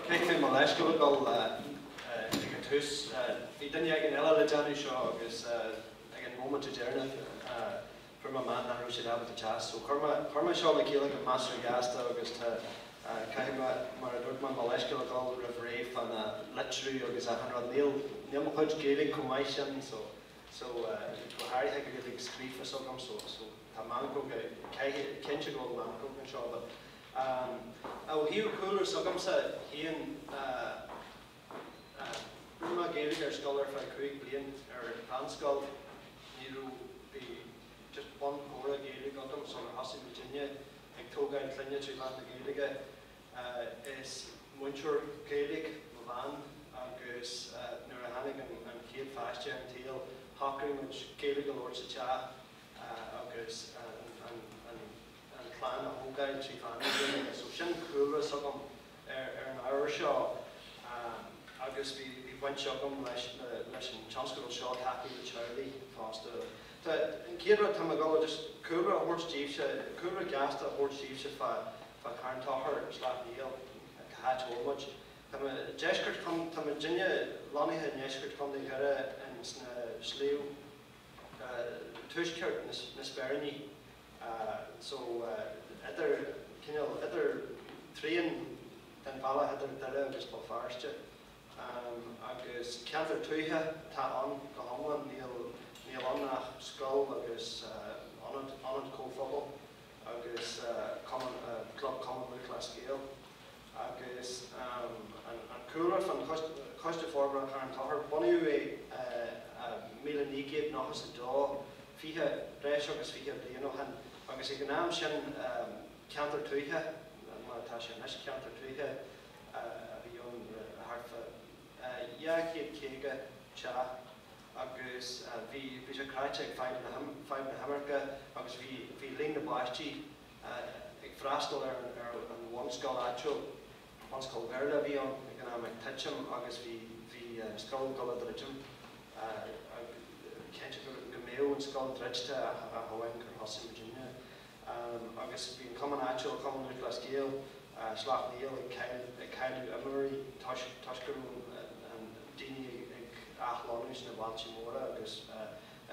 Caithfidh mé mo leithscéal a gabháil ag an tús. Bhí duine éigin eile le déanamh seo agus ag an móiminte deireanach fuair mé amach nach raibh siad ábalta teacht. So chuir mé chuir mé seo le chéile go measartha gasta agus tá caithfidh mé, mar a dúirt mé, mo leithscéal a gabháil roimh ré fá na litriú agus achan rud. Níl níl mo chuid Gaeilge chomh maith sin so. so go háirithe Gaeilge scríofa s'agam so so tá meancóga cinnte go bhfuil meancóg anseo but ehm ó thaobh cúlra s'agamsa féin eh rinne mé Gaeilge ar scoil ar feadh cúig bliain ar mheánscoil ní raibh bhí just bunchomhrá Gaeilge agam sular thosaigh muidinne ag tógáil clainne trí mheán na Gaeilge Is múinteoir Gaeilge mo bhean agus nuair a tháinig an chéad pháiste ar an tsaol shocraigh muid Gaeilge a labhairt sa teach agus an chlann a thógáil trí mheán na Gaeilge. So sin cúlra s'agam ar an ábhar seo agus bhí baint agam leis an tionscadal seo tacú le teaghlaigh fosta. An chéad rud, tá mé ag dul just cúlra a thabhairt daoibhse, cúlra gasta a thabhairt daoibhse fá fá Carn Tóchair agus Sleacht Néill cá háit a bhfuil muid. Tá muid deisceart chontae, tá muidinne lonnaithe i ndeisceart Chontae Dhoire ins na sliabh tuaisceart na Speiríní so idir, cineál idir trian den bhealach idir Doire agus Béal Feirste agus ceantar tuaithe atá ann go hiomlán, níl ann ach scoil agus ionad, ionad comhphobail. agus Club Cumann Lúthchleas Gael agus an cúlra faoin Choiste Forbartha Charn Tóchair. Bunaíodh é i míle naoi gcéad nocha is a dó, fiche, breis agus fiche bliain ó shin, agus ag an am sin ceantar tuaithe, mar atá sé anois, ceantar tuaithe a bhí ann le thart fá dhá chéad caoga teach. agus bhí sé cráite ag fadhb na himirce agus bhí líon na bpáistí ag freastal ar an bhunscoil áitiúil, bunscoil Bhéarla a bhí ann ag an am, ag titim agus bhí scoil ag dul a dhruidim. Creidim go mbeadh an scoil druidte ach amháin gur thosaigh muidinne. agus bhí an cumann áitiúil, Cumann Lúthchleas Gael Shleacht Néill, ag cailleadh imreoirí toisc go raibh daoine ag athlonnú sna bailte móra agus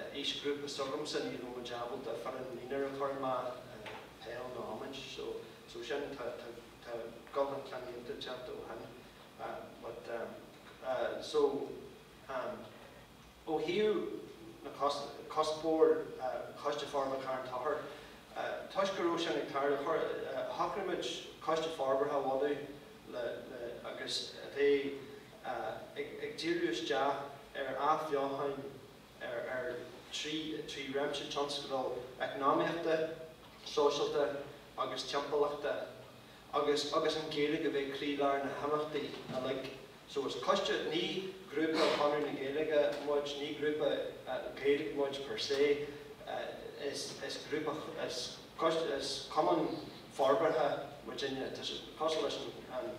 aoisghrúpa s'agamsa ní raibh muid ábalta foireann mionúr a chur amach, peil nó iomáint, so sin tá dul chun cinn iontach déanta ó shin but so. Ó thaobh cuspóir Choiste Forbartha Charn Tochair, toisc go raibh sin ag tarlú, shocraigh muid Coiste Forbartha a bhunú agus a bheidh ag díriú isteach ar athbheochain ar trí réimse tionscadal eacnamaíochta, sóisialta agus timpeallachta. agus agus an Ghaeilge a bheith croílár na himeachtaí uilig. So is coiste, ní grúpa Chonradh na Gaeilge muid, ní grúpa Gaeilge muid per se, is is grúpa, is coiste, is cumann forbartha muid, tá sé cosúil leis an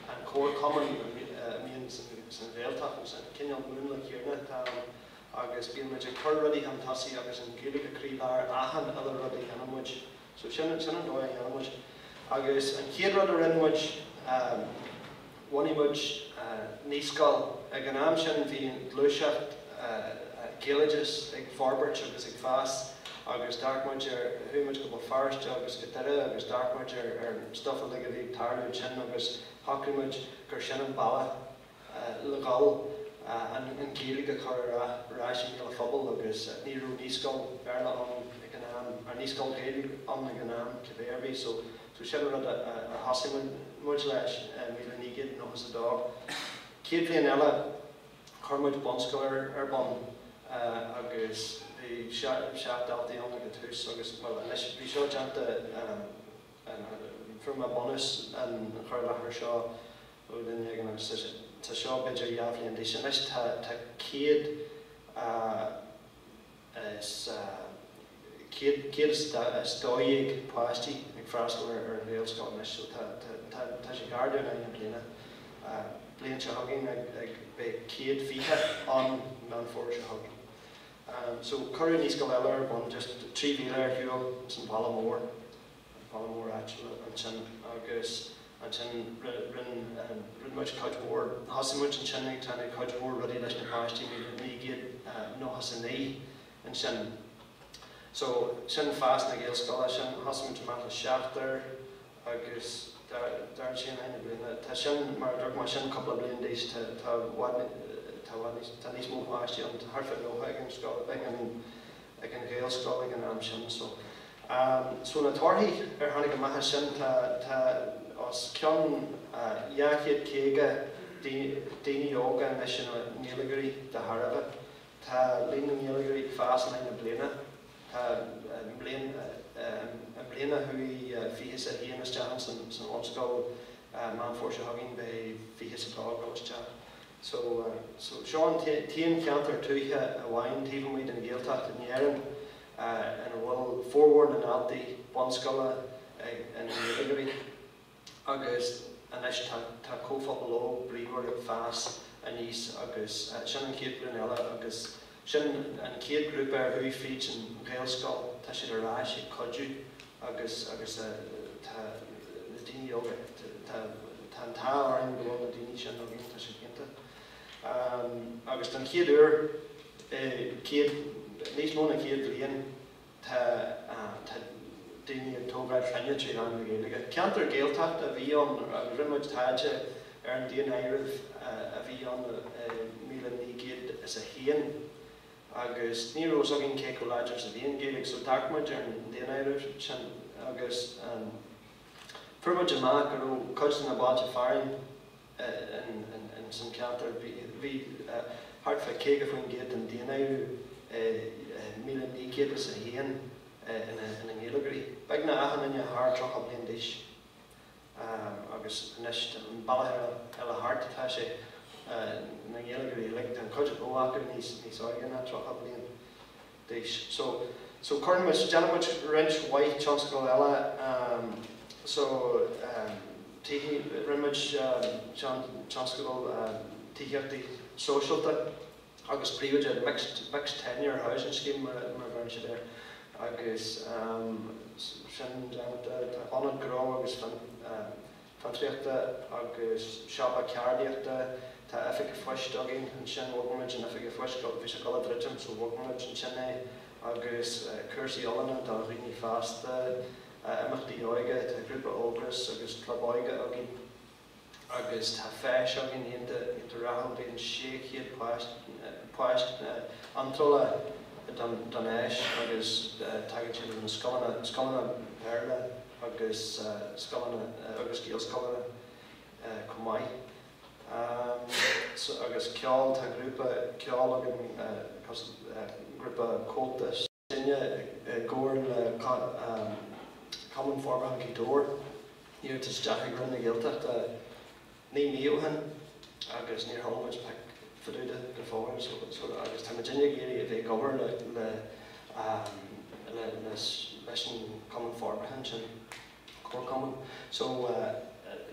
an chomharchumann a bhíonn san san Ghaeltacht, nó san cineál múnla céanna atá ann agus bíonn muid ag cur rudaí chun tosaigh agus an Ghaeilge croílár achan uile rud a dhéanann muid. So sin, sin an dóigh a dhéanann muid. Agus an chéad rud a rinne muid, bhunaigh muid naíscoil. Ag an am sin bhí gluaiseacht Ghaeloideachais ag forbairt agus ag fás agus d'amharc muid ar, chuaigh muid go Béal Feirste agus go Doire agus d'amharc muid ar stuff uilig a bhí ag tarlú ansin agus shocraigh muid gur sin an bealach, le gabháil, an Ghaeilge a chur ar ais i mbéal an phobail agus ní raibh naíscoil Bhéarla ann ag an am, or naíscoil Ghaeilge ann ag an am cibé ar bith. So so sin an rud a a thosaigh muid muid leis i míle naoi gcéad nócha is a dó. Chéad bhliain eile chuir muid bunscoil ar ar bun agus bhí seacht seacht daltaí ann ag an tús agus bhuel anois bhí seo déanta an an from a bunús an chur i láthair seo Go deimhin, ag an am seo, tá seo b'fhéidir dhá bhliain d'aois anois, tá céad is céad is dó dhéag páistí ag freastal ar an Ghaelscoil anois so tá sé ag ardú in aghaidh na bliana. Bliain seo chugainn beidh céad fiche ann Meán Fómhair seo chugainn. So cuireadh naíscoil eile ar bun just trí mhíle ar shiúl ins an bhaile mór. an bhaile mór áitiúil ansin agus ansin rinne muid cuid mhór, thosaigh muid ansin ag déanamh cuid mhór rudaí leis na páistí, bhí naoi gcéad nócha 's a naoi ansin so sin fás na Gaelscoile, sin thosaigh muid amach le seachtar agus d'fhás sí in aghaidh na bliana, tá sin mar a dúirt mé sin cúpla bliain d'aois, tá tá i bhfad, tá i bhfad níos, tá níos mó páistí ann, tá thart fá nócha ag an scoil, ag an. ag an ghaelscoil ag an am sin. So so na torthaí a tháinig amach as sin, tá tá os cionn dhá chéad caoga daoine óga anois ina nGaeilgeoirí de thairbhe. Tá líon na nGaeilgeoirí ag fás in aghaidh na bliana. Tá an bhliain i mbliana chuaigh fiche 's a haon isteach in san bhunscoil Meán Fómhair seo chugainn beidh fiche 's a dó ag dul isteach. So, seo an t-aon cheantar tuaithe amháin taobh amuigh den Ghaeltacht in Éirinn ina bhfuil formhór na ndaltaí bunscoile ina nGaeilgeoirí agus anois tá comhphobal óg bríomhar ag fás aníos agus sin an chéad ghlúin eile agus Sin an chéad ghrúpa a chuaigh fríd an Ghaelscoil, tá siad ar ais ag cuidiú agus agus tá na daoine óga, tá tá an t-ádh orainn go bhfuil na daoine sin againn, tá siad iontach agus don chéad uair i céad, níos mó ná céad bliain, Tá daoine ag tógáil clainne trí mheán na Gaeilge. Ceantar Gaeltachta a bhí ann agus rinne muid taighde ar an daonáireamh a bhí ann i míle naoi gcéad is a haon agus ní raibh fhios againn cé chomh láidir is a bhí an Ghaeilge so d'amharc muid ar an daonáireamh sin agus fuair muid amach go raibh cuid de na bailte fearainn ins an cheantar. Bhí thart fá 50% den daonra i 1901 ina nGaeilgeoirí. Beagnach achan duine thar 30 bliain d'aois agus anois an bealach eile thart atá sé, na Gaeilgeoirí uilig, tá an chuid is mó acu níos óige ná 30 bliain. d'aois. So, so cuireann muid, déanann muid roinnt mhaith tionscadal eile, ehm, so, ehm, tithí, rinne muid, ehm, tionscadal, ehm, tithíochta sóisialta agus príobháideach, mixed, mixed tenure housing scheme mar a, mar a bheireann siad air agus, ehm, sin, tá ionad gnó agus, ehm, fiontraíochta agus siopa ceardaíochta. Tá oifig phoist againn ansin, bhog muid an oifig phoist, bhí sé ag dul a dhruidim so bhog muid ansin é agus cúrsaí oiliúna do dhaoine fásta, imeachtaí óige, tá grúpa Ógras agus club óige againn agus tá feis againn iontach iontach rathúil, bíonn 600 páiste páiste iontrála don don fheis agus tagann siad ó na scoileanna scoileanna Béarla. agus scoileanna agus Gaelscoileanna chomh maith agus ceol tá grúpa ceol againn cos grúpa Comhaltas sinne i gcomhar le Cumann Forbartha Ghaoth Dobhair iarratas isteach ag Roinn na Gaeltachta Naoi mí ó shin agus níor chuala muid pioc fá dtaobh de go fóill so agus táimid uilig ag iarraidh a bheith ag obair le leis an Chumann Forbartha ansin, comharchumann, so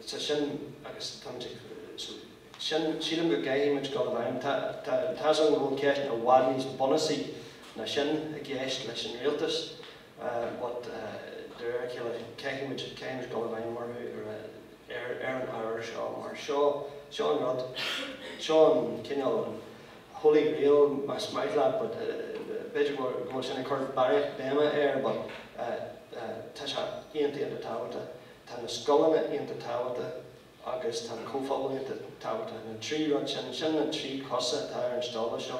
tá sin agus táimid ag so sin sílim go gcaithfidh muid dul in ann tá tá tá's agam go bhfuil ceist i bhfad níos bunasaí ná sin i gceist leis an rialtas, but de réir a chéile caithfidh muid caithfidh muid dul i bhfeidhm orthu ar ar ar an ábhar seo mar seo seo an rud seo an cineál holy grail más maith leat but b'fhéidir go bhfuil sin ag cur barraíocht béime air but tá sé iontach iontach tábhachtach tá na scoileanna iontach tábhachtach agus tá an comhphobal iontach tábhachtach na trí rud sin sin na trí cosa atá ar an stól seo.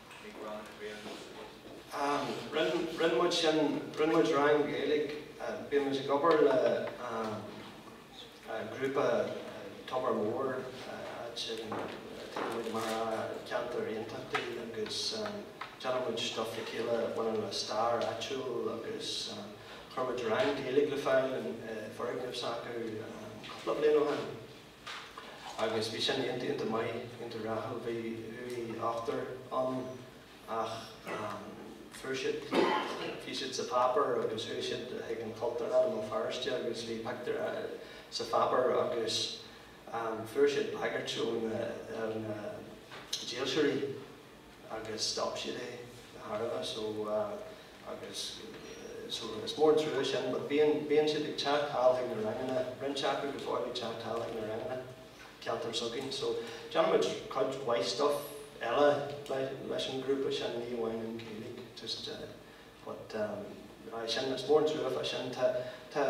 ag rang na Gaeilge sa phost? Rinne muid sin, rinne muid rang Gaeilge, bíonn muid ag obair le grúpa Tobar Mór áit a dtéann muid amach i gceantair Aontachtaí agus déanann muid stuff le chéile a bhaineann le stair áitiúil agus chuir muid rang Gaeilge ar fáil i bhfoirgneamh s'acu cúpla bliain ó shin. agus bhí sin iontach iontach maith, iontach rathúil. Bhí ochtar ann ach fuair siad, bhí siad sa pháipéar agus chuaigh siad chuig an Chultúrlann i mBéal Feirste agus bhí pictiúr sa pháipéar agus fuair siad bagairt ó na dílseoirí. agus stop siad é de thairbhe so agus so is mór an trua sin but bíonn bíonn siad ag teacht anall chuig na ranganna roinnt acu go fóill ag teacht anall chuig na ranganna ceantar s'againn so déanann muid cuid mhaith stuff eile leis an ghrúpa sin ní amháin an Ghaeilge just but aye sin is mór an trua fá sin tá tá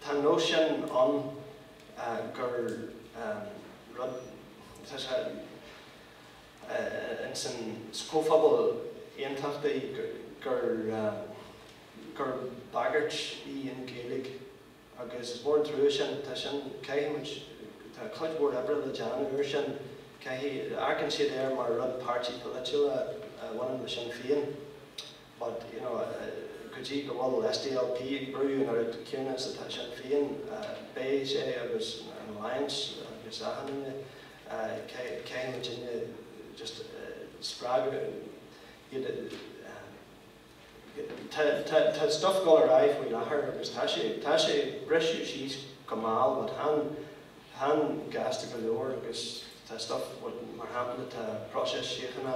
tá an nós sin ann gur rud tá sé insan Chomhphobal Aontachtach gur bagairt í an Ghaeilge agus is mór an trua sin. Tá sin, caithfidh muid, tá cuid mhór oibre le déanamh ar sin. Caithfidh, amharcann siad air mar rud páirtí polaitiúil a bhaineann le Sinn Féin. but, you know, go dtí go bhfuil SDLP ag brú an oiread céanna is atá Sinn Féin, beidh sé agus an Alliance agus achan duine, caithfidh muid éinne just spreagadh iad a, tá stuff dul ar aghaidh faoi láthair agus tá sé, tá sé ag briseadh síos go mall but chan, chan gasta go leor agus tá stuff mar shampla tá próiseas síochána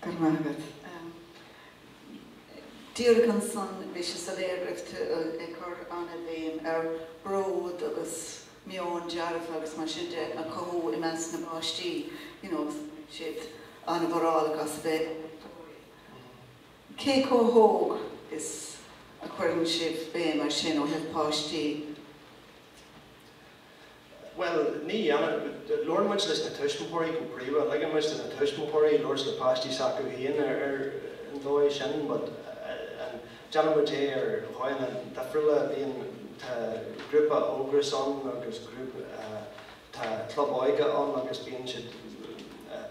Go raibh maith agat. Díreach ansan bhí sé soiléir go raibh tú ag cur an-bhéim ar bród agus meon dearfach agus mar sin de a chothú i measc na bpáistí, you know agus bíonn siad an-mhórálach as a bheith ag múinteoirí. Cé chomh hóg is a chuireann sibh béim air sin ó thaobh páistí? Bhuel, ní dhéanann. Labhrann muid leis na tuismitheoirí go príomha. Ligeann muid do na tuismitheoirí labhairt le páistí s'acu féin ar an dóigh sin but déanann muid é ar dhóigheanna difriúla. Bíonn, tá grúpa Ógras ann agus tá club óige ann agus bíonn siad,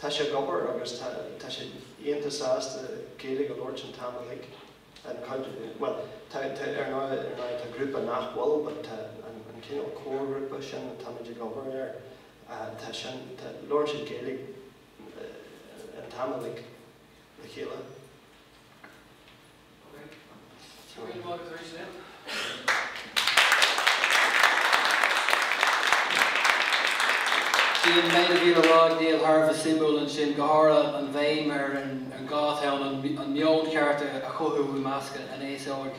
Tá sé ag obair agus tá tá sé iontach sásta Gaeilge a labhairt an t-am uilig. An cuid, bhuel, tá tá ar ndóigh ar ndóigh tá grúpa nach bhfuil but tá an an cineál comharghrúpa sin táimid ag obair air tá sin tá labhrann siad Gaeilge an t-am uilig le chéile. Bhí an méid a bhí le rá ag Niall thar a bheith suimiúil ansin, go háirithe an bhéim ar an gá atá ann an meon ceart a chothú i measc an aos óig.